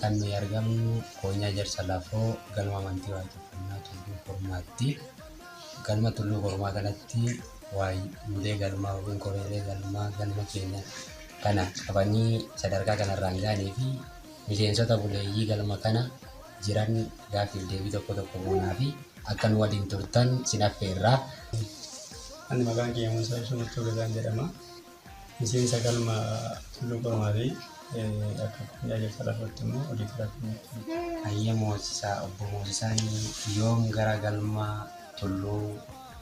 Kan nuyi argamnu Koonyaa Jarsa Lafoo Galma Amantii Waaqeffannaa Tulluu Kormaatti. Galma Tulluu Kormaa kanatti waayuulee galmaa yookiin koreelee galmaa galma keenya kana qabanii sadarkaa kanarraan ga'anii fi miseensota buleeyyii galma kana jiran gaaffiif deebii tokko tokko goonaa fi akka nu waliin turtan sin affeerra. Ani maqaan kiyya Muusaa Ibsa Murtoo Gazaan jedhama. Miseensa galma Tulluu Qormaatii akka tajaajilta lafootti immoo odiitara keenyatti. Hayyee Moosisaa, Obbo Moosisaan yoom gara galma Tulluu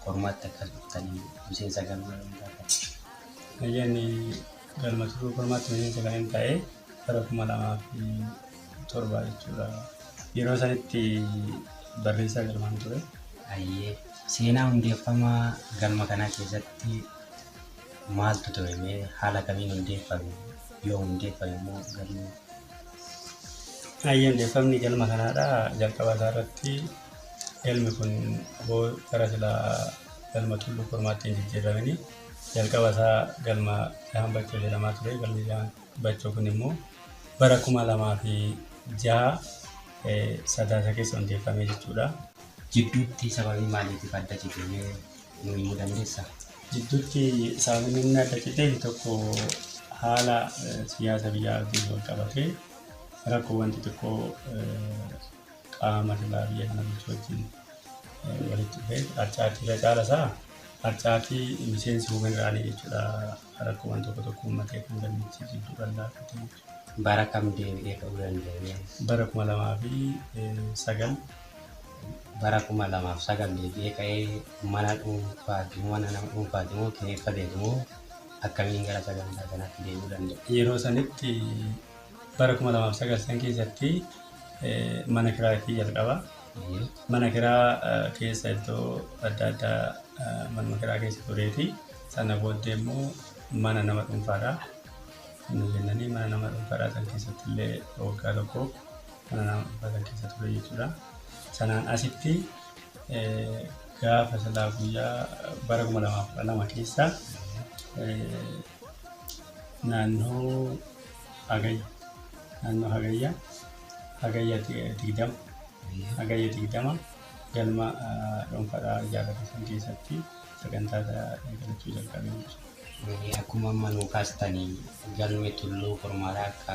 Qormaatti akka dhuftanii miseensa galma yoom taatan? Hayyeen galma Tulluu Qormaatti miseensa kan hin ta'e bara kuma lamaa fi torba jechuudha. Yeroo sanitti barreessaa galmaan ture. Hayyee seenaa hundeeffama galma kanaa keessatti Maaltu ture mee? Haala kamiin hundeeffame? Yoo hundeeffame immoo galmi Hayyee hundeeffamni galma kanaadha. Jalqaba isaa irratti galmi kun aboo gara silaa galma tulluu kormaatti hin jijjiiramini. Jalqaba isaa galma Dahan Bachoo jedhamaa ture. Galmi Dahan Bachoo kun immoo bara kuma lamaa fi jaha sadaasa keessa hundeeffame jechuudha. Jidduutti sababii maaliitiif adda cite mee? himuu dandeessaa? Jidduutti sababni inni adda citeef tokko haala siyaasa biyyaa wajjin wal qabatee rakkoowwan xixiqqoo qaama lolaa biyya kana bulchu wajjin walitti dhufee harcaatii irra caala isaa harcaatii miseensi hubaniraanii jechuudha rakkoowwan tokko tokko uummatee kan dandeettii jidduu bal'aa bara kam deebi'ee ka'uu danda'ee? Bara 2009 bara 2009 deebi'ee ka'ee mana dhuunfaati mana nama dhuunfaati moo kireeffateeti moo akkamiin gara sagantaa kanatti deebi'uu danda'e? Yeroo sanitti bara 2009 san keessatti mana kiraa itti jalqaba. Mana kiraa keessa iddoo adda addaa manuma kiraa keessa tureeti. Sana booddee immoo mana nama dhuunfaadha. Nuu jennanii mana nama dhuunfaadhaa san keessatti illee waggaa tokko mana nama dhuunfaa san keessa ture jechuudha. Sanaan asitti gaafa silaa guyyaa bara 2012 keessa naannoo hagayya naannoo hagayya hagayya 20 hagayya 20 galma dhuunfaadhaa ijaarrate san keessatti sagantaa eegalachuu jalqabee jechuudha. Akkuma amma nuu kaastan galmi tulluu kurmaadha akka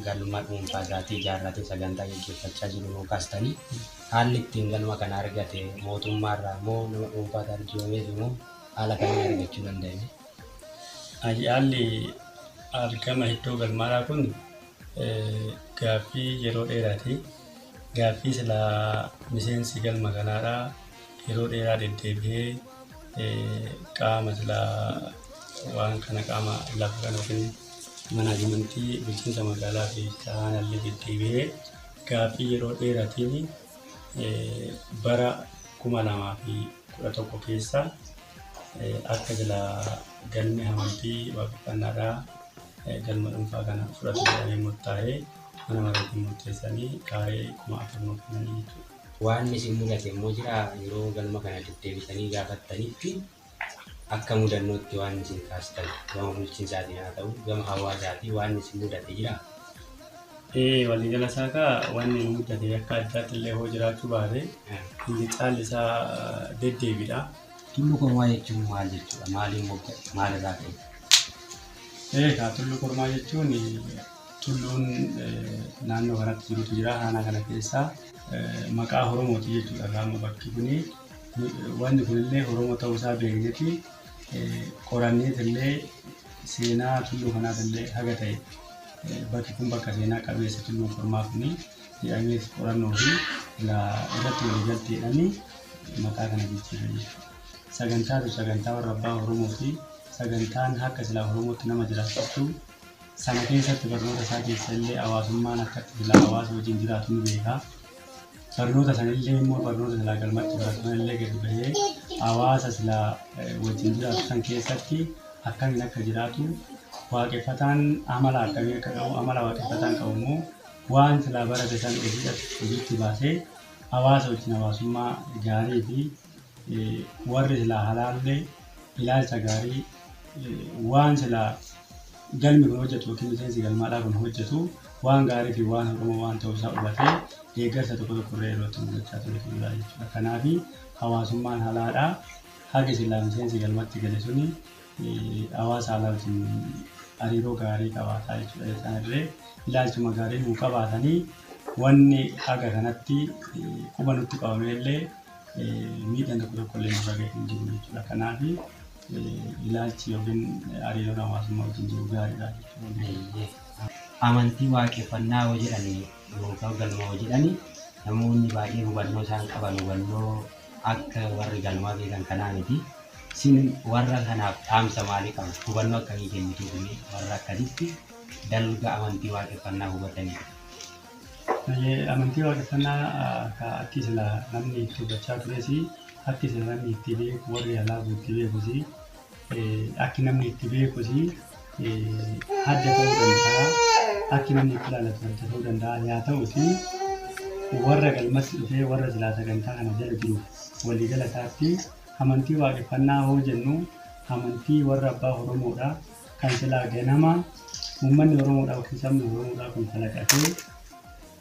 galma dhuunfaa isaatii ijaarratee sagantaa gaggeeffachaa jiru nuu kaastanii haalli ittiin galma kana argate mootummaa irraa moo nama dhuunfaatu arjoomeefi moo haala kamiin argachuu danda'e? Haalli argama iddoo galmaadhaa kun gaaffii yeroo dheeraati. Gaaffii silaa miseensi galma kanaadhaa yeroo dheeraa deddeebi'ee. qaama silaa waan kana qaama lafa kana yookiin manaajimentii bulchiinsa magaalaa fi aanaallee deddeebi'ee gaaffii yeroo dheeraatiin bara kuma lamaa fi kudha tokko keessa akka silaa galmi amantii waaqeffannaadhaa galma dhuunfaa kana fudhatu jedhamee murtaa'ee mana maraatiin murteessanii kaaree kuma afur nuuf kennanii jechuudha. Waanni isin mudate immoo jiraa? Yeroo galma kana deddeebitanii gaafattanitti akka mudannootti waanni isin kaastan gama bulchiinsaatiin haa ta'u gama hawaasaatiin waanni isin mudate jiraa? Ee, waliigala isaa kaa wanni nu muddate akka addaatti illee hoo jiraachuu baate inni caalli isaa deddeebiidha. Tullu Kormaa jechuun maal jechuudha? Maaliin mogga'e? Maalirraa ka'e? Ee, kaa Tullu Kormaa jechuun Tulluun naannoo kanatti jirutu jira. Aanaa kana keessa maqaa Oromooti jechuudha egaa amma bakki kuni. Wanni kunillee Oromoo ta'uu isaa beekneeti qoranneetillee seenaa tulluu kanaatillee haga ta'e bakki kun bakka seenaa qabeessa tulluun kormaa kuni jedhamees qorannoo fi ilaa irratti waliigalteedhaani maqaa kana jijjiirre jechuudha. Sagantaatu sagantaa warra abbaa Oromoo fi sagantaan akka silaa Oromootti nama jiraachiftu Sana keessatti barnoota isaa keessa illee hawaasummaan akkatti silaa hawaasa wajjin jiraatu ni beeka. Barnoota sana illee immoo barnoota silaa galmatti baratu sana illee gadi bahee hawaasa silaa wajjin jiraatu san keessatti akkamiin akka jiraatu waaqeffataan amala akkamii akka qabu amala waaqeffataan qabu immoo waan silaa barate sana hojiidhaaf hojiitti baasee hawaasa wajjin hawaasummaa gaarii fi warri silaa halaallee ilaalcha gaarii waan silaa galmi kun hojjetu yookiin miseensi galmaadhaa kun hojjetu waan gaarii fi waan hordomoo waan ta'uu isaa hubatee deeggarsa tokko tokko irra yeroo itti mul'achaa ture jira jechuudha. Kanaaf hawaasummaan halaadhaa haga silaa miseensi galmatti gale suni hawaasa alaa wajjin hariiroo gaarii qabaataa jechuudha. Isaan illee ilaalchuma gaarii nuu qabaatanii wanni haga kanatti quba nutti qabamee illee miidhaan tokko tokko illee nurra ga'e hin jiru jechuudha. Kanaaf ilaalchi yookiin hariiroon hawaasummaa wajjin jiru gaariidha jechuudha. Amantii waaqeffannaa yoo jedhan yookaan galma yoo jedhan namoonni baay'een hubannoo isaan qaban hubannoo akka warri galmaa beekan kanaa miti. Isin warra kanaaf dhaamsa maalii qabdu? Hubannoo akkamii kennituuf warra akkasitti dalga amantii waaqeffannaa hubataniif? Amantii waaqeffannaa ka akki sila namni itti hubachaa turesi akki sila namni itti beeku warri halaafu itti beekusi akki namni itti beekusi adda ta'uu danda'a akki namni itti ilaalatu adda ta'uu danda'a yaa ta'uti warra galmatti dhufee warra silaa sagantaa kana jala jiru waliigala isaatti amantii waaqeffannaa hoo jennu amantii warra abbaa oromoodha kan silaa ganama uummanni Oromoodhaa yookiin sabni Oromoodhaa kun kalaqatee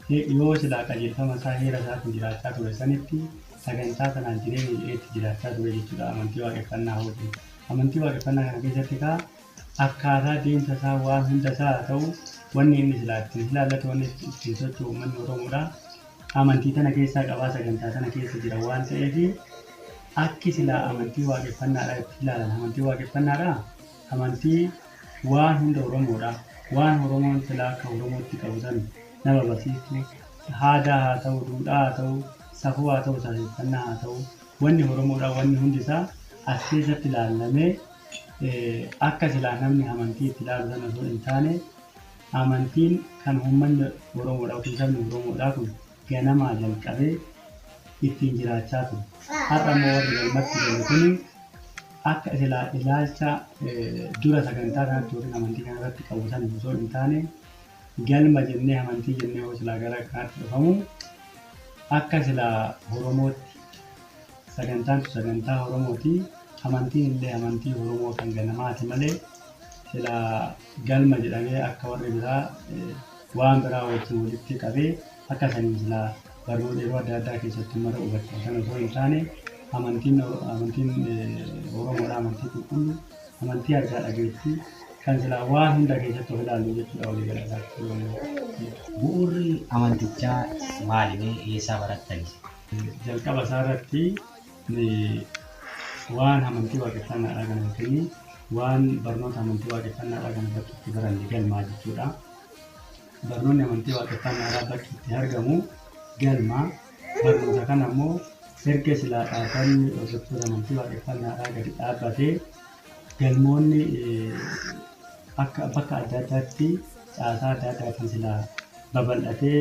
he- yoo silaa qajeelfama isaa heera isaatiin jiraachaa ture sanitti sagantaa sanaan jireenya jedhee itti jiraachaa ture jechuudha amantii waaqeffannaa hootiin. Amantii waaqeffannaa kana keessatti kaa akkaataa deemsa isaa waan hunda isaa haa ta'u wanni inni silaa ittiin ilaallatu wanni ittiin socho'u uummanni Oromoodhaa amantii tana keessaa qabaa sagantaa tana keessa jira waan ta'eef akki silaa amantii waaqeffannaadhaa itti ilaalan amantii waaqeffannaadhaa Amantii waan hunda Oromoodha, waan Oromoon silaa akka Oromootti qabu san nama barsiistu, haadaa haa ta'uu, duudhaa haa ta'uu, safuu haa ta'uu, safeeffannaa haa ta'uu, wanni Oromoodha wanni hundi isaa as keessatti laallamee akka silaa namni amantii itti laalu san osoo hin taane amantiin kan uummanni Oromoodha yookiin sabni Oromoodhaa kun ganamaa jalqabee ittiin jiraachaa ture. Har'a immoo warri galmatti galu kuni akka isilaa ilaalcha dura sagantaa kanatti yookiin amantii kana irratti qabu san osoo hin taane galma jennee amantii jennee yoo silaa gara kanaatti dhufamu akka silaa Oromootti sagantaan tu sagantaa Oromooti amantiin illee amantii Oromoo kan ganamaati malee silaa galma jedhamee akka warri biraa waan biraa wajjin walitti qabee akka saniin silaa barnoota yeroo adda addaa keessatti uummata hubachiisu sana osoo hin taane amantiin amantiin Oromoodha amantii qulqulluu amantii argaa dhageettii kan silaa waan hunda keessatti of ilaallu jechuudha walii galataatti. Bu'uurri amantichaa maalime eessaa barattani? Jalqaba isaa irratti Ani waan amantii waaqeffannaadhaa kana yookiin waan barnoota amantii waaqeffannaadhaa kana bakki itti baranne galmaa jechuudha. Barnoonni amantii waaqeffannaadhaa bakki itti argamu galma. Barnoota kana immoo erga silaa dhaabbanni hordoftoota amantii waaqeffannaadhaa gadi dhaabbatee galmoonni akka bakka adda addaatti caasaa adda addaatiin silaa babal'atee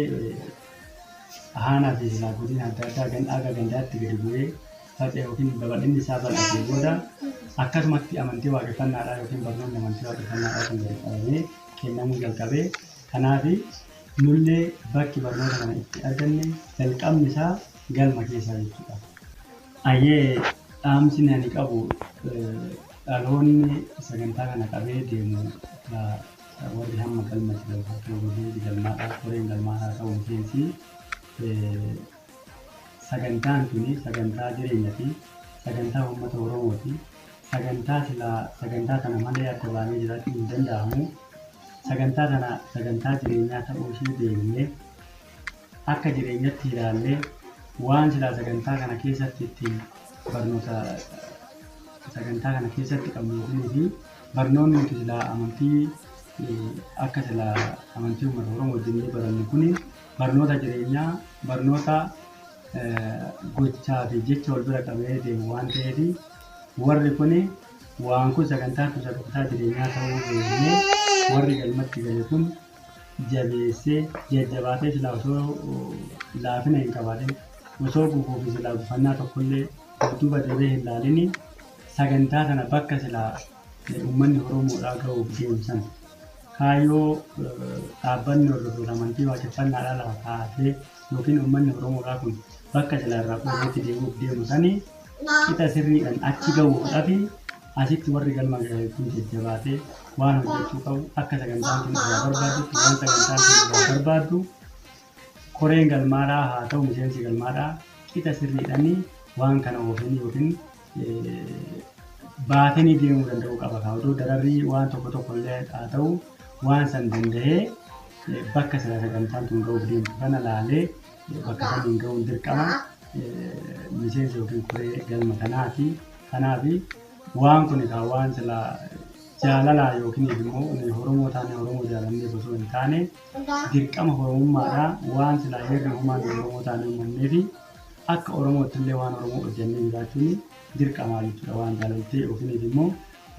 Aanaa fi silaa godina adda addaa ganda aga gandaatti gadi bu'ee faca'e yookiin babal'inni isaa bal'atee booda akkasumatti amantii waaqeffannaadhaa yookiin barnoonni amantii waaqeffannaadhaa kun gadi qabamee kennamuu jalqabee kanaaf nullee bakki barnoota kana itti arganne jalqabni isaa galma keessaa jechuudha. Ayyee dhaamsi ani qabu dhaloonni sagantaa kana qabee deemu Warri hamma galma itti galfattan waliin galmaadhaa koreen galmaa haa ta'u miseensi sagantaan tuni sagantaa jireenyati sagantaa uummata oromooti sagantaa silaa sagantaa tana malee adda baanee jiraachuu hin danda'amu sagantaa tana sagantaa jireenyaa ta'uu ishee beekne akka jireenyatti ilaallee waan silaa sagantaa kana keessatti ittiin barnoota sagantaa kana keessatti qabnu yookiin Barnoonni nuti silaa amantii akka sila amantii uummata Oromoo wajjin ni barannu kuni barnoota jireenyaa, barnoota gochaa fi jecha wal bira qabee deemu waan ta'eef warri kuni waan kun sagantaa fi sagantaa jireenyaa ta'uu beeknee warri galmatti gale kun jabeessee jajjabaatee silaa osoo laafina hin qabaatin osoo gufuu fi silaa gufannaa tokkollee duuba deebee hin laalinii Sagantaa kana bakka silaa uummanni Oromoodhaa gahuuf deemu sana kaayyoo dhaabbanni hordoftoota amantii waaqeffannaadhaa lafa kaa'atee yookiin uummanni Oromoodhaa kun bakka silaa irraa fudhateetti deemuuf deemu sanii qixa sirriidhaan achi gahuudhafi asitti warri galma gahe kun jajjabaatee waan hojjechuu qabu akka sagantaan kun irraa barbaaddutti waan sagantaan kun irraa barbaaddu koreen galmaadhaa haa ta'u miseensi galmaadhaa qixa sirriidhaan waan kana oofanii yookiin baatanii deemuu danda'uu qaba kaa odoo dararrii waan tokko tokko illee haa ta'u waan san danda'ee bakka sila sagantaan tun ga'uuf deemtu kana laalee bakka saniin ga'uun dirqama miseensa yookiin koree galma kanaati kanaaf waan kun kaa waan sila jaalalaa yookiin immoo horomoo taane horomoo jaalannee osoo hin taane dirqama horomummaadha waan sila heerri humaan horomoo taane uumamneefi Akka Oromoottillee waan Oromoo hojjannee jiraachuun dirqamaa jechuudha. Waan jaalaltee ofiiniif immoo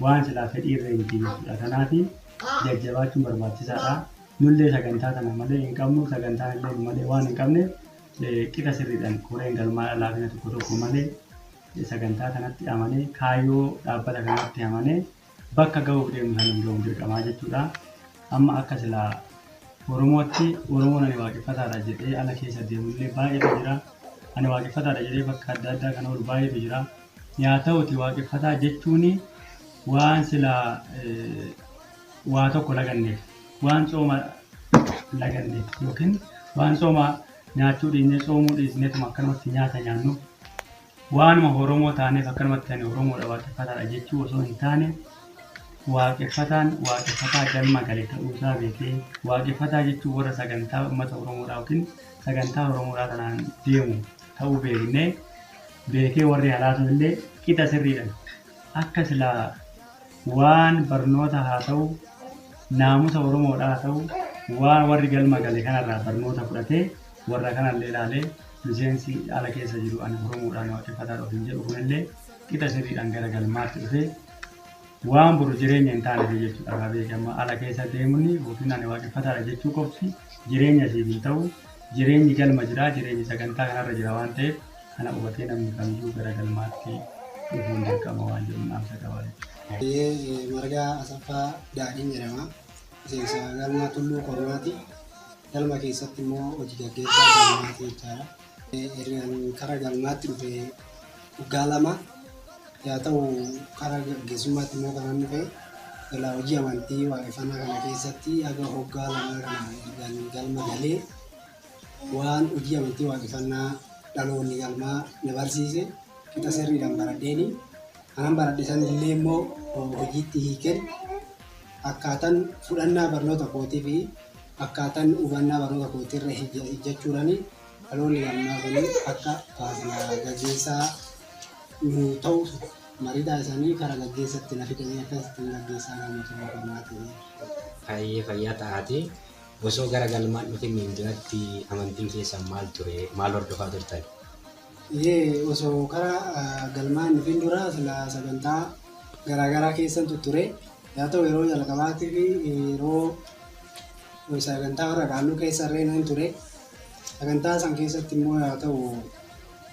waan silaa fedhii irree miti jechuudha. Kanaaf jajjabaachuun barbaachisaadha. Nullee sagantaa tana malee hin qabnu, sagantaan illee nu malee waan hin qabneef qixa sirriidhaan koreen galmaa'aa laafina tokko tokko malee sagantaa kanatti amanee kaayyoo dhaabbata kanaatti amanee bakka gahuuf deemnu sanan gahuuf dirqamaa jechuudha. Amma akka sila Oromootti Oromoon ani waaqeffataadha jedhee ala keessa deemullee baay'eetu jira. Ani waaqeffataadha jedhee bakka adda addaa kan oolu baay'eetu jira. Yaa ta'uti waaqeffataa jechuun waan sila waa tokko laganneef waan tsooma laganneef yookiin waan tsooma nyaachuu dhiisnee tsoomuu dhiisneetuma akkanumatti nyaata nyaannu Waanuma Oromoo taaneef akkanumatti ani Oromoodha Waaqeffataadha jechuu osoo hin taane Waaqeffataan Waaqeffataa galma gale ta'uu isaa beekee Waaqeffataa jechuun warra sagantaa uummata Oromoodhaa yookiin sagantaa Oromoodhaa tanaan deemu ta'uu beeknee beekee warri halaasoon illee qixa sirriidhan akka silaa Waan barnoota haa ta'u, naamusa Oromoodha haa ta'u, waan warri galma gale kanarraa barnoota fudhatee warra kanallee ilaalee miseensi ala keessa jiru ani Oromoodhaan waaqeffataadha ofiin jedhu kunillee qixa sirriidhaan gara galmaatti dhufee waan boru jireenya hin taaneef jechuudha. Irraa beekee amma ala keessa deemuun yookiin ani waaqeffataadha jechuu qofti jireenya siif hin ta'u. Jireenyi galma jira, jireenyi sagantaa kanarra jira waan ta'eef Kana hubatee namni kamiyyuu gara galmaatti dhufuun dirqama waan jedhuun dhaamsa qaba jechuudha. Baay'ee Margaa Asaffaa Daadhiin jedhama. Miseensa galma Tulluu Kormaati. Galma keessatti immoo hojii gaggeessaa galmaati jechaadha. Ergan kara galmaatti dhufe waggaa lama yaa ta'u kara gaggeessummaatti immoo kanan dhufe ilaa hojii amantii waaqeffannaa kana keessatti haga waggaa lamaa kana ergan galma galee Waan hojii amantii waaqefannaa dhaloonni galmaa na barsiise qixa sirriidhaan baradheeni. Kanan baradhe sanillee immoo hojiitti hiikeen akkaatan fudhannaa barnoota kootii fi akkaatan hubannaa barnoota kootii irra hijjachuudhaan dhaloonni galmaa kun akka faarfannaa gaggeessaa nu ta'u mariidhaa isaanii karaa gaggeessatti na fidanii akkasitti gaggeessaa galma tumaa kanaati. Baay'ee fayyaa ta'aatii. Osoo gara galmaan dhufinniin duratti amantiin keessan maal ture? Maal hordofaa turtan? Ee, osoo kara galmaa hin dhufin dura sila sagantaa garaagaraa keessan tutture. Yaa ta'u yeroo jalqabaatiif yeroo sagantaa warra kaanuu keessa irree nan ture. Sagantaa san keessatti immoo yaa ta'u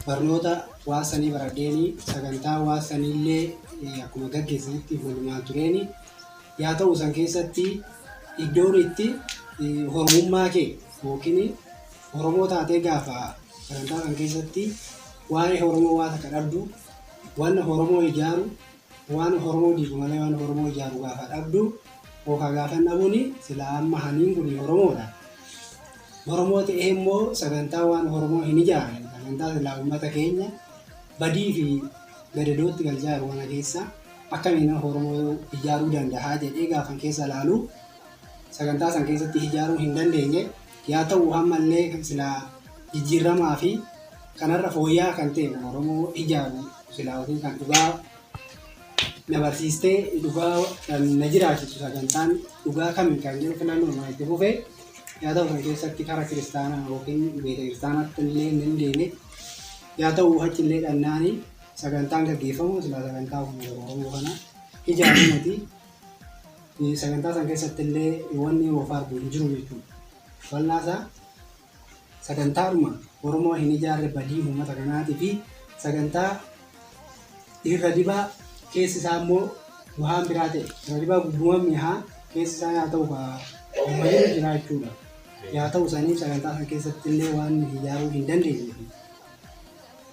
barnoota waasanii baradheeni sagantaa waasaniillee akkuma gaggeessanitti walumaan tureeni. yaa ta'u san keessatti iddoon itti horomummaa kee yookiin horomoo taatee gaafa sagantaa san keessatti waa'ee horomoo waa takka dhabdu waan horomoo ijaaru waan horomoo diigu malee waan horomoo ijaaru gaafa dhabdu yookaan gaafan dhabuuni silaa amma haniin kun horomoodha. Horomoo ta'ee immoo sagantaa waan horomoo hin ijaarre sagantaa silaa uummata keenya badii fi gadadootti galchaa jiru kana keessa Akkamiin nama Oromoo ijaaruu danda'a jedhee gaafan keessa ilaalu sagantaa san keessatti ijaaruu hin dandeenye. Yaa ta'u ammallee kan silaa jijjiirramaa fi kanarra fooyya'aa kan ta'e nama Oromoo ijaaru silaa ofii kan dhugaa na barsiistee dhugaa kan na jiraachisu sagantaan dhugaa kamiin kan jedhu filannoon waan itti fufe yaa ta'u kan keessatti kara kiristaanaa yookiin beeta kiristaanaatti illee hin dandeenye yaa ta'u achi illee dhannaanii sagantaan gaggeeffamu silaa sagantaa uummata Oromoo kana ijaaru miti. Sagantaa san keessatti illee wanni woofaardu hin jiru jechuudha. Bal'aa isaa sagantaadhuma Oromoo hin ijaarre badii uummata kanaatii fi sagantaa irra dibaa keessi isaa immoo waan biraa ta'e irra dibaa gubbuma mi'aa keessi isaa yaa ta'u baay'ee jira jechuudha. Yaa ta'u saniif sagantaa san keessatti illee waan ijaaruu hin dandeenye.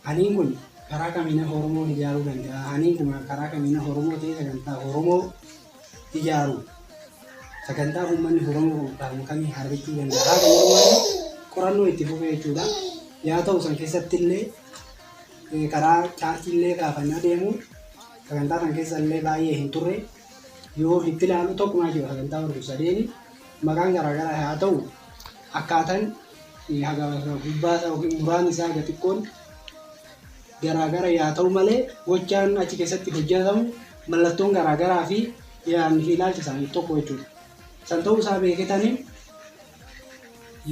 Haniin kun karaa kamiina Oromoo ijaaruu danda'a? Haniin kun karaa kamiina Oromoo ta'ee sagantaa Oromoo ijaaru? Sagantaa uummanni Oromoo qophaa'u kamii harbichuu danda'a? Qorannoo itti fufee jechuudha. Yaa ta'u san keessatti illee eh, karaa chaartii illee kaafannaa deemu sagantaa san keessa illee baay'ee hin turre yoo itti ilaalu tokkumaa jiru sagantaa warri sadeeni maqaan garaagaraa haa ta'u akkaataan haga gubbaa isaa yookiin muraan isaa haga xiqqoon garaagara yaa ta'u malee gochaan achi keessatti hojjetamu mallattoon garaagaraa fi yaadni fi ilaalchi isaanii tokko jechuudha. San ta'uu isaa beeketanii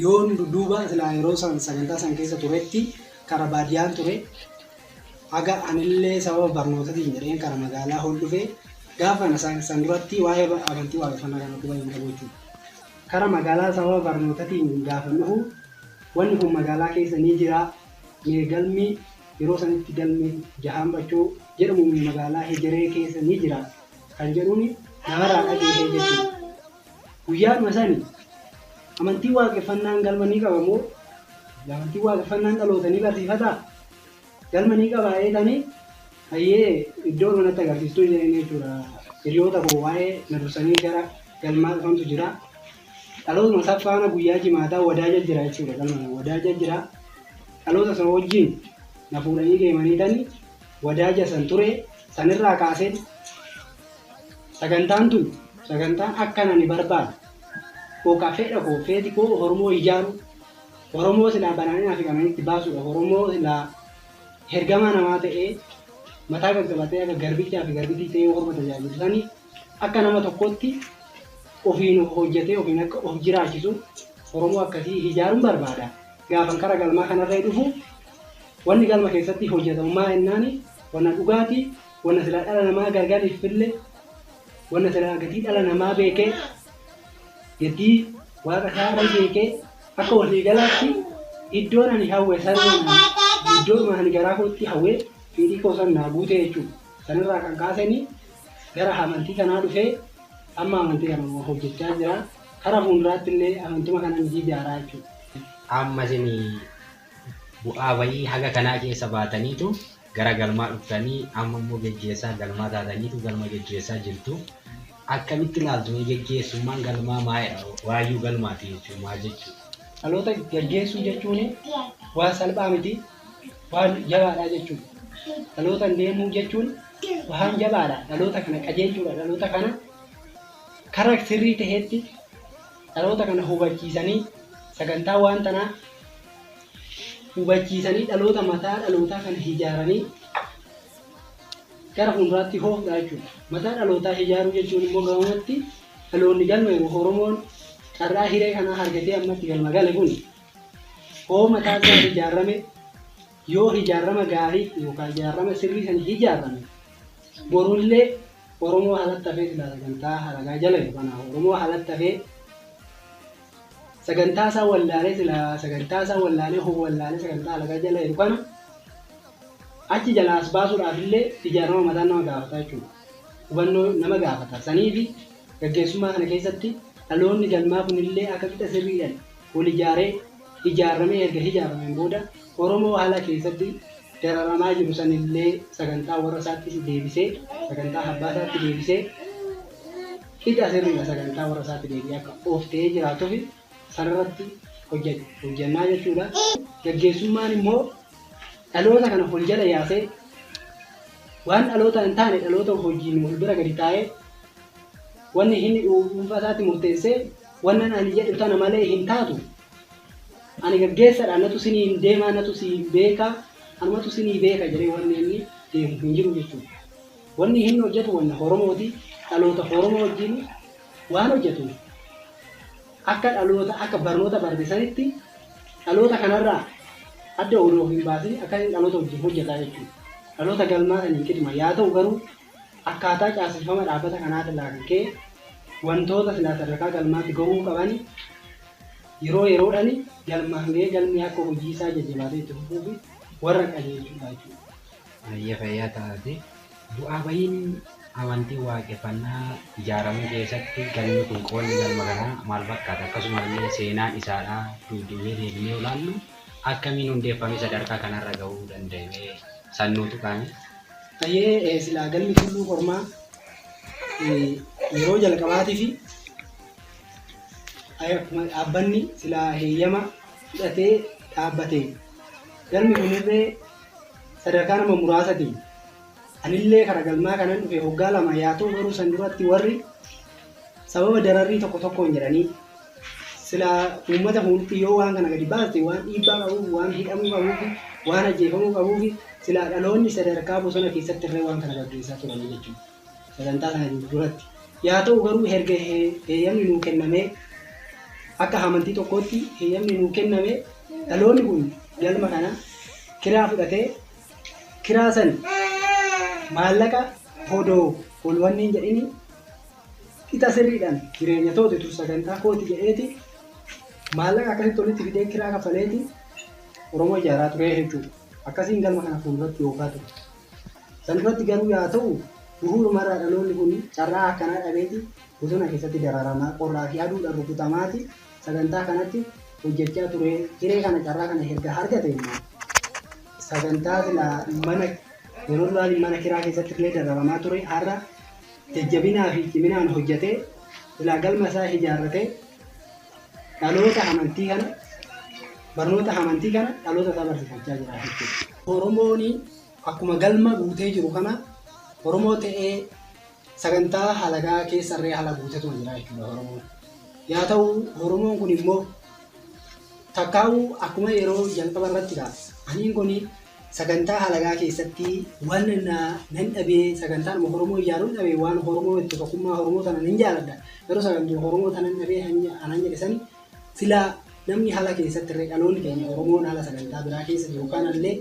yoon duuba silaa yeroo san sagantaa san keessa turetti kara baadiyaan ture haga anillee sababa barnootatiin jedheen kara magaalaa hol dhufee gaafa sana san duratti waa'ee amantii waaqeffannaa kana quba hin qabu jechuudha. Kara magaalaa sababa barnootatiin gaafan dhufu wanni kun magaalaa keessa ni jiraa mee galmi yeroo sanitti galmi jahaan bachoo jedhamu magaalaa hegeree keessa ni jira kan jedhuni namarraa dhageehe jechuudha. Guyyaadhuma sani amantiin waaqeffannaan galma ni qaba moo? Amantiin waaqeffannaan dhaloota ni barsiifataa? Galma ni qabaa jeetani hayyee iddoo irma natti agarsiistuu jeeni jechuudha hiriyoota koo waa'ee na dursanii gara galmaa dhufantu jira dhalootuma isa faana guyyaa jimaataa wadaaja jira jechuudha galma sana wadaaja jira dhaloota sana wajjin na fuudhanii deemanii tani wadaaja san ture sanirraa kaaseen sagantaan tun sagantaan akkan ani barbaadu yookaan fedha koo feeti koo hormoo ijaaruu Oromoo silaa badhaadhinaa fi qananii itti baasuudha. Oromoo silaa hergamaa namaa ta'ee mataa gaggabatee akka garbichaa fi garbittii ta'ee orma tajaajilu sanii akka nama tokkootti ofiin of hojjetee ofiin akka of jiraachisu Oromoo akkasii hijaaruun barbaada. Gaafan kara galmaa kanarree dhufu wanni galma keessatti hojjetamu maa ennaani wanna dhugaati wanna silaa dhala namaa gargariif fille wanna silaa gatii dhala namaa beekee gatii waaqa isaarra beekee Akka waliigalaatti iddoon ani hawwe sanuma naan iddoodhuma ani garaa kootti hawwee fedhii koo san naa guute jechuudha. Sanirraa kan kaaseni gara hamantii kanaa dhufee amma amantii kanuma hojjechaa jira. Kara fuunduraatti illee amantuma kanan jijaaraa jechuudha. Amma isin bu'aa ba'ii haga kanaa keessa baataniitu gara galmaa dhuftanii amma immoo geggeessaa galmaa taataniitu galma geggeessaa jirtu. Akkamitti ilaaltu mee gaggeessummaan galmaa maa jedha waayyuu galmaati jechuun maal jechuudha? Dhaloota gaggeessuu jechuun waan salphaa miti waan jabaadha jechuudha. Dhalootan deemuu jechuun waan jabaadha dhaloota kana qajeelchuudha dhaloota kana kara sirrii ta'etti dhaloota kana hubachiisanii sagantaa waan tanaa hubachiisanii dhaloota mataa dhalootaa kana ijaaranii Gara fuulduraatti hoof dha jechuun mataa dhalootaa hijaaruu jechuun immoo gabamatti dhaloonni galma yookiin Oromoon carraa hiree kanaa hargatee amma itti galma gale kun hoo mataa isaa hijaarrame yoo hijaarrama gaarii yookaan hijaarrama sirrii sani hijaarrame borullee Oromoo halattafee silaa sagantaa haragaa jala yookaan Oromoo halattafee sagantaa isaa wallaalee silaa sagantaa isaa wallaalee hoo wallaalee sagantaa alagaa jala jiru kana achi jalaa as baasuudhaaf illee ijaarama mataa nama gaafata jechuudha. Hubannoo nama gaafata. Sanii fi gaggeessummaa kana keessatti dhaloonni galmaa kun illee akka qixa sirriidhaan wal ijaaree ijaaramee erga ijaarameen booda Oromoo haala keessatti dararamaa jiru san illee sagantaa warra isaattis deebisee sagantaa abbaa isaatti deebisee Hidha sirriidha sagantaa warra isaatti deebi'ee akka of ta'ee jiraatufi sanarratti hojjannaa jechuudha. Gaggeessummaan immoo dhaloota kana wal jala yaasee waan dhaloota hin taane dhaloota hojiin wal bira gadi taa'ee wanni hin dhuunfaa isaatti murteessee wannan ani jedhu tana malee hin taatu ani gaggeessadha natu sinii hin deemaa natu si hin beekaa anumatu sinii beeka jedhee wanni inni deemu hin jiru jechuudha. Wanni hinni hojjatu wanna Oromooti, dhaloota Oromoo wajjiin waan hojjatuuf akka dhaloota akka barnoota barate sanitti dhaloota kanarraa adda odoo of hinbaasin akka inni dhaloota wajjiin hojjata jechuu dhaloota galmaa saniin qixuma. Yaa ta'u garuu akkaataa caaseffama dhaabbata kanaatirraa kan ka'e wantoota silaa sadarkaa galmaatti gahuu qabani yeroo yeroodhani galmaan gahee galmi akka hojiisaa jajjabaatee itti fufuufi warra qajeelchudha jechuudha. Hayyee fayyaa ta'aatii. Bu'aa ba'iin amantii waaqeffannaa ijaaramuu keessatti galmi kun qoonni galma kanaa maal fakkaata? Akkasuma illee seenaan isaadhaa duubdeebinee deebinee yoo ilaallu akkamiin hundeeffamee sadarkaa kanarra ga'uu danda'e mee san nuu tuqaamee? Hayyee silaa galmi Tulluu Kormaa yeroo jalqabaatifi akkuma dhaabbanni silaa heeyyama fudhatee dhaabbateen galmi kunillee sadarkaa nama muraasatiin anillee kara galmaa kanan dhufe hoggaa lama yaa ta'u garuu san duratti warri sababa dararrii tokko tokkoon jedhanii sila uummata fuulduratti yoo waan kana gadi baaste waan dhiibbaa qabuuf waan hidhamuu qabuufi waan ajjeefamuu qabuufi sila dhaloonni sadarkaa bosona keessatti irree waan kana gaggeessaa turanii jechuudha. sagantaa kana duratti. Yaa ta'u garuu erga heeyyamni nuu kennamee akka amantii tokkootti heeyyamni nuu kenname dhaloonni kun galma kana kiraa fudhatee kiraa san maallaqa hodoo ol wanneen jedhini qixa sirriidhaan jireenya toote tun sagantaa kooti jedheeti maallaqa akkasitti walitti fidee kiraa kafaleeti Oromoo ijaaraa turee jechuudha. Akkasiin galma kana fuulduratti yookaa ture. San duratti garuu yaa ta'u, buhuuruma irraa dhaloonni kun carraa akkanaa dhabeeti bosona keessatti dararamaa, qorraa fi aduudhaan rukutamaati sagantaa kanatti hojjachaa turee, hiree kana carraa kana erga argate immoo sagantaa silaa mana yeroo duraan mana kiraa keessatti illee dararamaa ture har'a jajjabinaa fi ciminaan hojjatee silaa galma isaa ijaarratee dhaloota amantii kana barnoota hamantii kana dhaloota isaa barsiifachaa jira jechuudha. Oromoon akkuma galma guutee jiru kana Oromoo ta'ee sagantaa halagaa keessarree haala guutetu jira jechuudha Oromoon. Yaa ta'u Oromoon kun immoo takkaa'uu akkuma yeroo jalqaba irratti ka'a. Aniin kun Sagantaa halagaa keessatti wan na nan dhabee sagantaanuma horomoo ijaaruun dhabe waan horomoo itti tokkummaa horomoo tanan hin jaaladha garuu sagantuu horomoo tanan dhabee anan jedhe sani sila namni hala keessatti irree dhaloonni keenya horomoon hala sagantaa biraa keessa jiru kanallee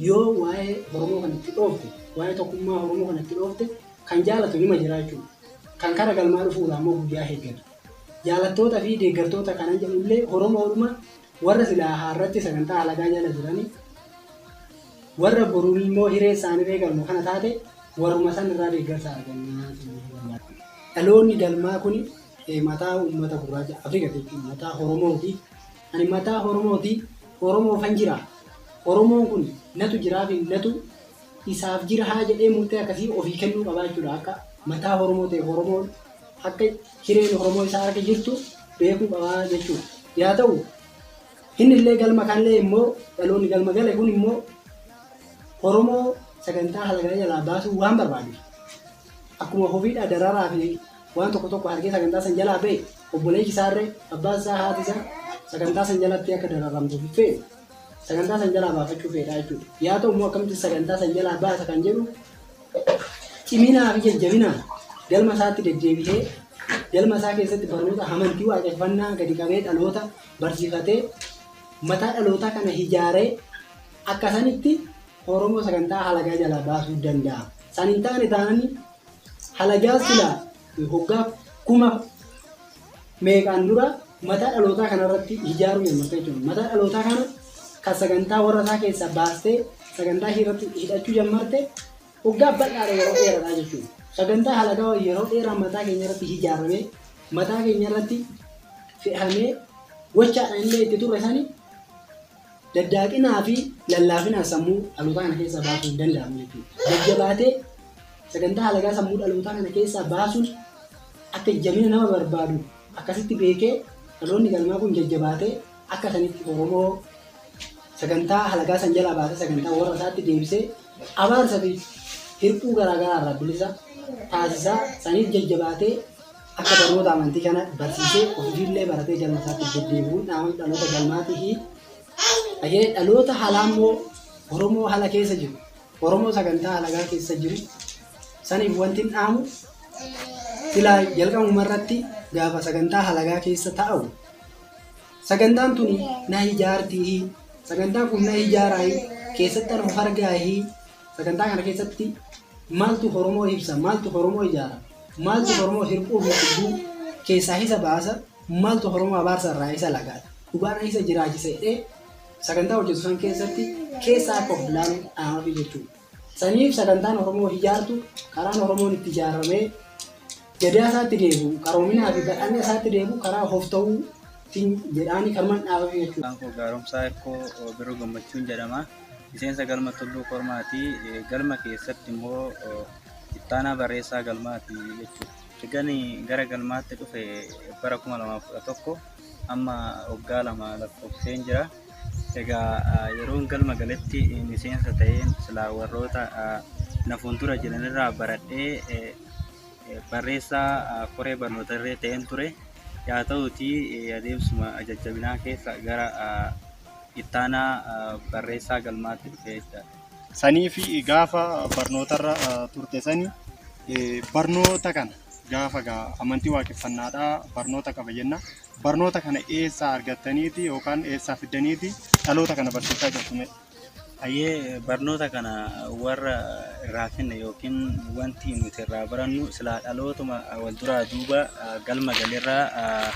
yoo waa'ee horomoo kan itti dhoofte waa'ee tokkummaa horomoo kan itti dhoofte kan jaalatu nima jiraachuu kan kara galmaa dhufuudha ammoo guyyaa heeggatu jaalattoota fi deeggartoota kanan jedhullee horomoodhuma Warra silaa har'atti sagantaa halagaa jala jirani, warra borummoo hiree isaaniree galma kana taate warruma san irraa deeggarsa argannaa jennee barbaadna. Dhaloonni galmaa kuni mataa uummata gurraacha Afrika jechuun mataa Horomooti. Ani mataa Horomooti, Oromoofan jira. Oromoon kun natu jiraafi natu isaaf jira haa jedhee murtee akkasii ofii kennuu qabaa jechuudha akka mataa Oromoo ta'e Oromoon akka hireen Oromoo isaa akka jirtu beekuu qaba jechuudha. Yaa ta'u inni illee galma kanlee immoo dhaloonni galma gale kun immoo Oromoo sagantaa halagaa jalaa baasuu waan barbaadu akkuma hofiidhaa dararaa fi waan tokko tokko harkee sagantaa san jalaa ba'e obboleessi isaarree abbaan isaa haati isaa sagantaa san jalatti akka dararamtu fee sagantaa san jalaa baafachuu feedhaa jechuudha. Yaa ta'u immoo akkamitti sagantaa san jalaa baasa kan jedhu ciminaa fi jajjabinaan galma isaatti deddeebihee galma isaa keessatti barnoota amantii waaqeffannaa gadi qabee dhaloota barsiifatee mataa dhalootaa kana hijaaree akka sanitti Oromoo sagantaa halagaa jalaa baasuu danda'a. San hin taane taananii halagaa silaa hoggaa kuma meeqaan dura mataa dhalootaa kana irratti hijaaruu jalqabte jechuudha. Mataa dhalootaa kana kan sagantaa warra isaa keessaa baastee sagantaa ishee irratti hidhachuu jalqabde waggaa bal'aadha yeroo dheeraadha jechuudha. Sagantaa halagaa yeroo dheeraa mataa keenya irratti hijaaramee mataa keenya irratti fe'amee gochaadhaan illee itti turre sani Daddaaqinaa fi lallaafinaan sammuu dhalootaa kana keessaa baasuun hin danda'amu jechuudha. Jajjabaatee sagantaa halagaa sammuu dhalootaa kana keessaa baasuun akka jabina nama barbaadu akkasitti beekee dhaloonni galmaa kun jajjabaatee akka sanitti Oromoo sagantaa halagaa san jalaa baasee sagantaa warra isaatti deebisee abaarsa fi hir'uu garaa garaa irraa bilisa taasisaa saniif jajjabaatee akka barnoota amantii kana barsiisee ofiillee baratee galma isaatti deddeebi'uun dhaamamni dhaloota galmaatii fi dhagee dhaloota halaa immoo Oromoo hala keessa jiru Oromoo sagantaa halagaa keessa jiru saniif wanti hin dhaamu silaa jalqabuma irratti gaafa sagantaa halagaa keessa taa'u sagantaan tuni na ijaartii sagantaan kun na ijaaraayi keessatti an of argaayi Sagantaa kana keessatti maaltu Oromoo ibsa, maaltu Oromoo ijaara, maaltu Oromoo hirphuu fi cubbuu keessaa isa baasa, maaltu Oromoo abaarsa irraa isa lagaata, dhugaan isa jiraachisa jedhee sagantaa hojjetu san keessatti keessa akka of ilaalu dhaamafi jechuudha. Saniif sagantaan Oromoo ijaartu karaan Oromoon itti ijaaramee Gadaa isaatti deebi'u, qaroominaa fi badhaadhina isaatti deebi'u karaa hofta'uu tin jedhaani kanuman dhaabafi jechuudha. Maqaan koo Gaaromsaa Hirkoo Birruu Gammachuun jedhama. Miseensa Galma Tulluu Kormaati. Galma keessatti immoo ittaanaa barreessaa galmaati jechuudha. Ergan gara galmaatti dhufe bara 2011 amma waggaa lama lakkoofsiseen jira. Egaa yeroon galma galetti miseensa ta'een silaa warroota na fuuldura jiran irraa baradhee barreessaa koree barnoota irree ta'een ture. Yaa ta'uutii adeemsuma jajjabinaa keessa gara ittaanaa barreessaa galmaatti dhufee jira. Sanii fi gaafa barnootarra turte sani barnoota kana gaafa gaa amantii waaqeffannaadhaa barnoota qaba jenna. Barnoota kana eessaa argattaniiti yookaan eessaa fiddaniiti dhaloota kana barsiisaa jirtu mee? Hayyee barnoota kana warra irraa finne yookiin wanti nuti irraa barannu silaa dhalootuma wal duraa duuba galma galirraa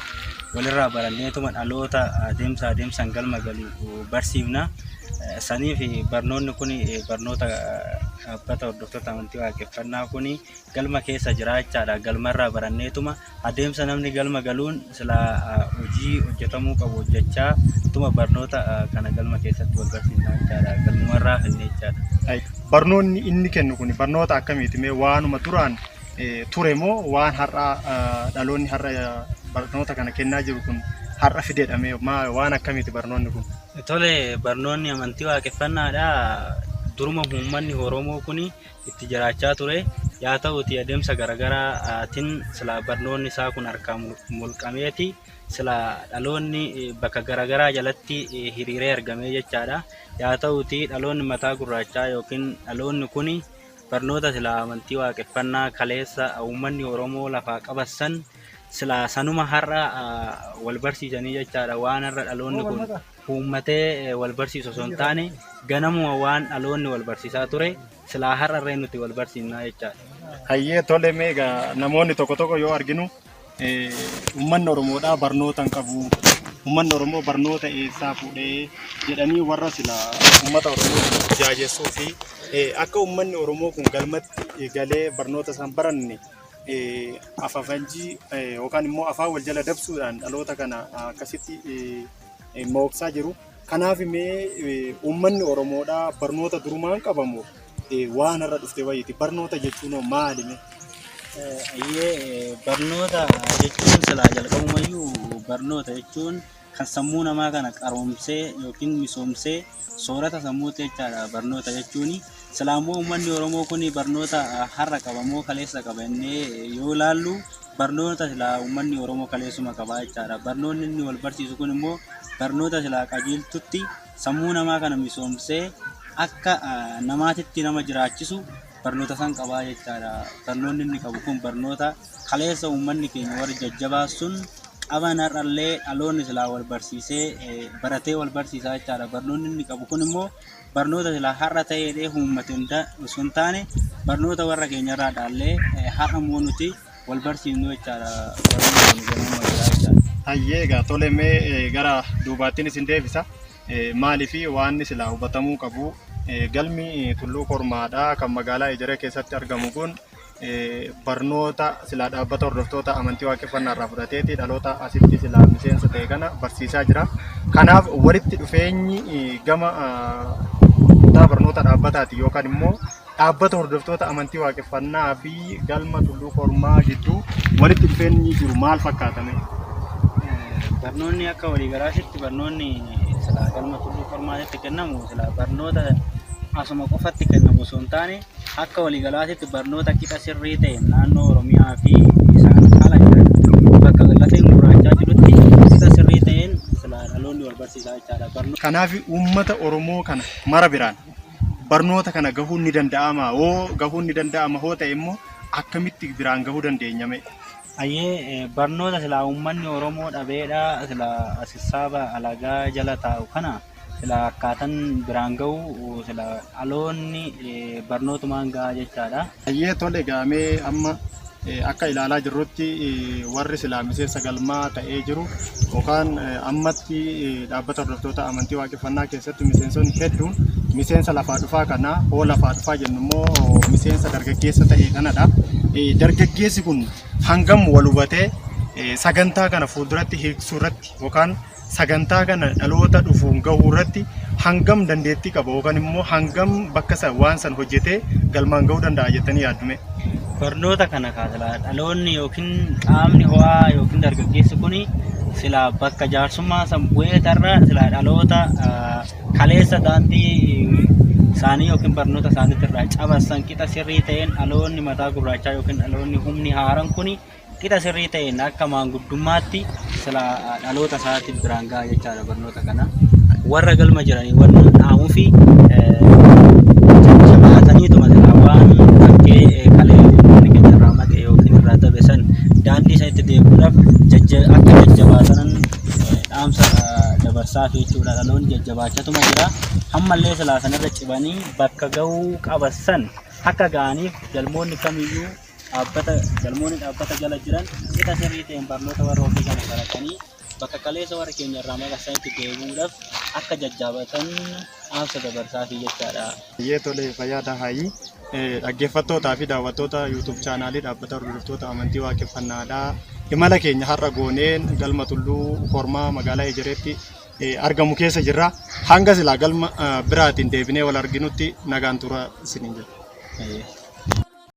walirraa baranneetuma dhaloota adeemsa adeemsaan galma galu barsiifna. Saniif barnoonni kun barnoota dhaabbata hordoftoota amantii waaqeffannaa kun galma keessa jira jechaadha. Galmarraa baranneetuma. Adeemsa namni galma galuun silaa hojii hojjetamuu qabu hojjechaa utuma barnoota kana galma keessatti wal barsiisnaa jechaadha. Galmuma irraa hafnee jechaadha. Barnoonni inni kennu kun barnoota akkamiiti? Mee waanuma duraan ture moo waan har'aa dhaloonni har'a barnoota kana kennaa jiru kun har'a fidedha mee waan akkamiiti barnoonni kun? Tole barnoonni amantii waaqeffannaadha. Duruma uummanni Oromoo kun itti jiraachaa ture. Yaa ta'uutii adeemsa garaagaraatiin silaa barnoonni isaa kun harkaa mulqameeti silaa dhaloonni bakka garaagaraa jalatti hiriiree argamee jechaadha. Yaa ta'uutii dhaloonni mataa gurraachaa yookiin dhaloonni kun barnoota silaa amantii waaqeffannaa kaleessa uummanni Oromoo lafaa qabassan silaa sanuma har'a wal barsiisanii jechaadha waan har'a dhaloonni kun uummatee wal barsiisu osoo hin taane ganamuma waan dhaloonni wal barsiisaa ture silaa har'arree nuti wal barsiifnaa jechaadha. Hayyee tole mee egaa namoonni tokko tokko yoo arginu eh, uummanni Oromoodhaa barnoota hin qabu. Uummanni Oromoo barnoota eessaa fuudhee jedhanii warra sila uummata Oromoo jaajessuu fi eh, akka uummanni Oromoo kun galmatti eh, galee barnoota isaan baranne eh, afafanjii eh, yookaan immoo afaan wal jala dabsuudhaan dhaloota kana ah, akkasitti eh, mooksaa jiru. Kanaaf mee uummanni Oromoodhaa barnoota durumaan qabamu waan har'a dhufte wayiiti. Barnoota jechuun hoo maali mee? Ayyee barnoota jechuun silaa jalqabumayyuu barnoota jechuun kan sammuu namaa kana qaroomsee yookiin misoomsee soorata sammuuti jechaadha barnoota jechuuni. Silaa immoo uummanni Oromoo kun barnoota har'a qaba moo kaleessa qaba jennee yoo ilaallu barnoota silaa uummanni Oromoo kaleessuma qabaa jechaadha. Barnoonni inni wal barsiisu kun immoo barnoota silaa qajeeltutti sammuu namaa kana misoomsee akka ah, namaatitti nama jiraachisu barnoota san qabaa jechaadha. Barnoonni inni qabu kun barnoota kaleessa uummanni keenya warri jajjabaa sun qaban har'allee dhaloonni silaa wal barsiisee eh, baratee wal barsiisaa jechaadha. Barnoonni inni qabu kun immoo barnoota silaa har'a ta'ee ta'ee uummate hunda osoo hin taane barnoota warra keenya irraa dhaallee eh, har'a immoo nuti wal barsiifnu jechaadha. Barnoota wal jennaan wal jira jechaadha. Hayyee egaa tole mee eh, gara duubaattiin isin deebisa. Eh, Maalii fi waan silaa hubatamuu qabu eh, galmi eh, tulluu kormaadhaa kan magaalaa Ejeree keessatti argamu kun barnoota silaa dhaabbata hordoftoota amantii waaqeffannaa irraa fudhateeti dhaloota asitti silaa miseensa ta'e kana barsiisaa jira. Kanaaf walitti dhufeenyi eh, gama ah, kutaa barnoota dhaabbataati yookaan immoo dhaabbata hordoftoota amantii waaqeffannaa fi galma tulluu kormaa gidduu walitti dhufeenyi jiru maal fakkaatame? barnoonni akka waliigalaatitti barnoonni silaa galma tulluu qormaatitti kennamu silaa barnoota asuma qofatti kennamu osoo hin taane Akka waliigalaatitti barnoota qixa sirrii ta'een naannoo Oromiyaa fi isaan ala jiran bakka lafeen gurraachaa jirutti qixa sirrii ta'een silaa dhaloonni wal barsiisaa jechaadha. Barnoota Kanaaf uummata Oromoo kana mara biraan barnoota kana gahuun ni danda'amaa? Hoo gahuun ni danda'ama hoo ta'e immoo akkamitti biraan gahuu dandeenya mee? Ayyee barnoota silaa uummanni Oromoo dhabeedha silaa sissaaba alagaa jala taa'u kana. silaa akkaatan biraan ga'u silaa dhaloonni barnootumaan ga'a jechaadha. Baay'ee tole gaamee amma akka ilaalaa jirrutti warri silaa miseensa galmaa ta'ee jiru yookaan ammatti dhaabbata hordoftoota amantii waaqeffannaa keessatti miseensonni hedduun miseensa lafaa dhufaa kana hoo lafaa dhufaa jennu immoo miseensa dargaggeessa ta'e kanadha. Dargaggeessi kun hangam wal hubatee sagantaa kana fuulduratti hiiksuu irratti yookaan sagantaa kana dhaloota dhufuun gahuu irratti hangam dandeettii qaba yookaan immoo hangam bakka san waan san hojjetee galmaan gahuu danda'a jettanii yaaddume. Barnoota kana kaasila dhaloonni yookiin qaamni ho'aa yookiin dargaggeessi kun sila bakka jaarsummaa san bu'ee tarra sila dhaloota ah, kaleessa daandii isaanii yookiin barnoota isaaniitti irraa cabassan qixa sirrii ta'een dhaloonni mataa gurraachaa yookiin dhaloonni humni haaran kun Qixa sirrii ta'een akka maanguddummaatti sila dhaloota isaatti biraan ga'a jechaadha barnoota kana. Warra galma jiranii warra dhaamuu fi shabaataniituma irraa waan fakkee kalee uummanni keenya irraa maqe yookiin irraa dabe san daandii sanitti deemuudhaaf jajja akka jajjabaatanan dhaamsa dabarsaa fi jechuudha dhaloonni jajjabaachatuma jira. Ammallee silaa sanarra cibanii bakka ga'uu qaban san akka ga'aniif galmoonni kamiyyuu dhaabbata galmoonni dhaabbata jala jiran qixa sirrii ta'een barnoota warra ofii kana baratanii bakka kaleessa warra keenya irraa maqasanitti deebi'uudhaaf akka jajjaabatan dhaamsa dabarsaa fi jechaadha. Baay'ee tole fayyaa Dahaayii. Dhaggeeffattootaa fi daawwattoota YouTube chaanaalii dhaabbata hordoftoota amantii waaqeffannaadhaa. Imala keenya har'a gooneen galma tulluu kormaa magaalaa Ejereetti argamu keessa jirra. Hanga silaa galma biraatiin deebinee wal arginutti nagaan tura isiniin jedha.